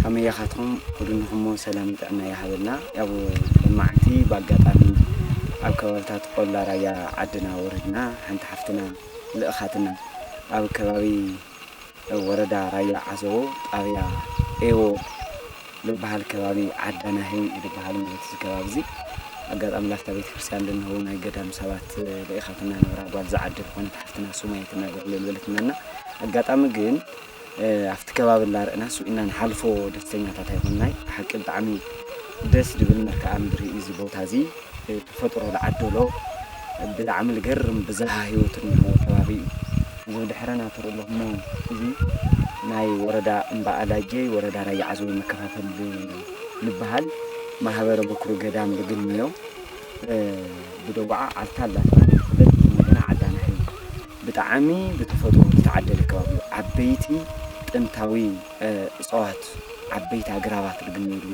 ከመይ ኢኻትኩም ኩድንኹሞ ሰላምን ጥዕና ይሃበልና ያው ለማዓንቲ ባጋጣሚ ኣብ ከባብታት ቆላ ራያ ዓድና ወረድና ሓንቲ ሓፍትና ልእኻትና ኣብ ከባቢ ወረዳ ራያ ዓዘቦ ጣብያ ኤዎ ልባሃል ከባቢ ዓዳ ናሂ እዩ ልባሃል ማለት እዚ ከባቢ እዚ ኣጋጣሚ ላፍታ ቤተክርስትያን ልንህው ናይ ገዳም ሰባት ልኢኻትና ነበራ ጓል ዝዓዲ ዝኾነት ሓፍትና ሱማየት እናገርለ ልበለትናና ኣጋጣሚ ግን ኣብቲ ከባቢ እንዳረእና ስብ ኢልና ንሓልፎ ደስተኛታት ኣይኮናይ ብሓቂ ብጣዕሚ ደስ ድብል መርክኣ ምድሪ እዩ እዚ ቦታ እዚ ተፈጥሮ ዝዓደሎ ብጣዕሚ ልገርም ብዝሃ ሂወት እንሀዎ ከባቢ እዩ እዚ ብድሕረና ትርኡ ኣለኹሞ እዚ ናይ ወረዳ እምባ ኣላጀይ ወረዳ ራያ ዓዘቦ መከፋፈል ልበሃል ማህበረ በኩሪ ገዳም ልግንዮ ብደዋዓ ዓልታ ኣላ ተባሂላ ትፍለጥ እዚ እንደገና ዓዳናሒ ብጣዕሚ ብተፈጥሮ ዝተዓደለ ከባቢ እዩ። ዓበይቲ ጥንታዊ እፅዋት፣ ዓበይቲ ኣግራባት ልግነየሉ፣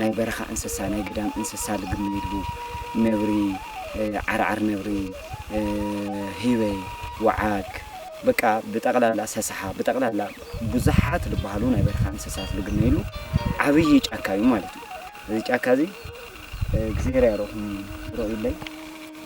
ናይ በረኻ እንስሳ፣ ናይ ግዳም እንስሳ ልግነየሉ፣ ነብሪ፣ ዓርዓር ነብሪ፣ ህበይ፣ ወዓግ፣ በቃ ብጠቕላላ ሰሰሓ፣ ብጠቕላላ ብዙሓት ልበሃሉ ናይ በረኻ እንስሳት ልግነየሉ ዓብዪ ጫካ እዩ ማለት እዩ። እዚ ጫካ እዚ እግዚኣብሔር ያርኢኹም ርኡይለይ።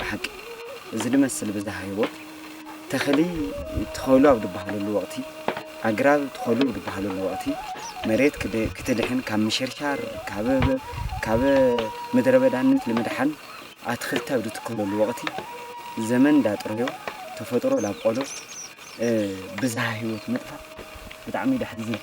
ብሓቂ እዚ ድመስል ብዝሃ ህይወት ተኽሊ ትኸሉ ኣብ ድበሃለሉ ወቕቲ፣ ኣግራብ ትኸሉ ብድበሃለሉ ወቕቲ፣ መሬት ክደ ክትድሕን ካብ ምሽርሻር ካብ ካብ ምድረበዳነት ንምድሓን ኣትኽልቲ ኣብ ድትከለሉ ወቕቲ፣ ዘመን ዳጥረዮ ተፈጥሮ ዳብቆሎ ብዝሃ ህይወት ምጥፋእ ብጣዕሚ ዩ ደሕዝን።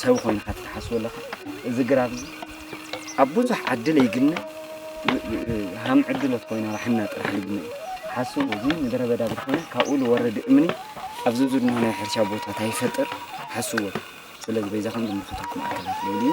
ሰብ ኮይንካ ትሓስቦ ኣለካ እዚ ግራብ እዚ ኣብ ብዙሕ ዓዲ ለይግነ ሃም ዕድሎት ኮይና ራሕና ጥራሕ ልግነ እዩ ሓስቡ እዚ ምድረ በዳ ብዝኾነ ካብኡ ዝወረድ እምኒ ኣብዚ ዝድኖ ናይ ሕርሻ ቦታት ኣይፈጥር ሓስቡ ስለዚ በዛ ከም ዝምልከተኩ ማእከላት ልብል እዩ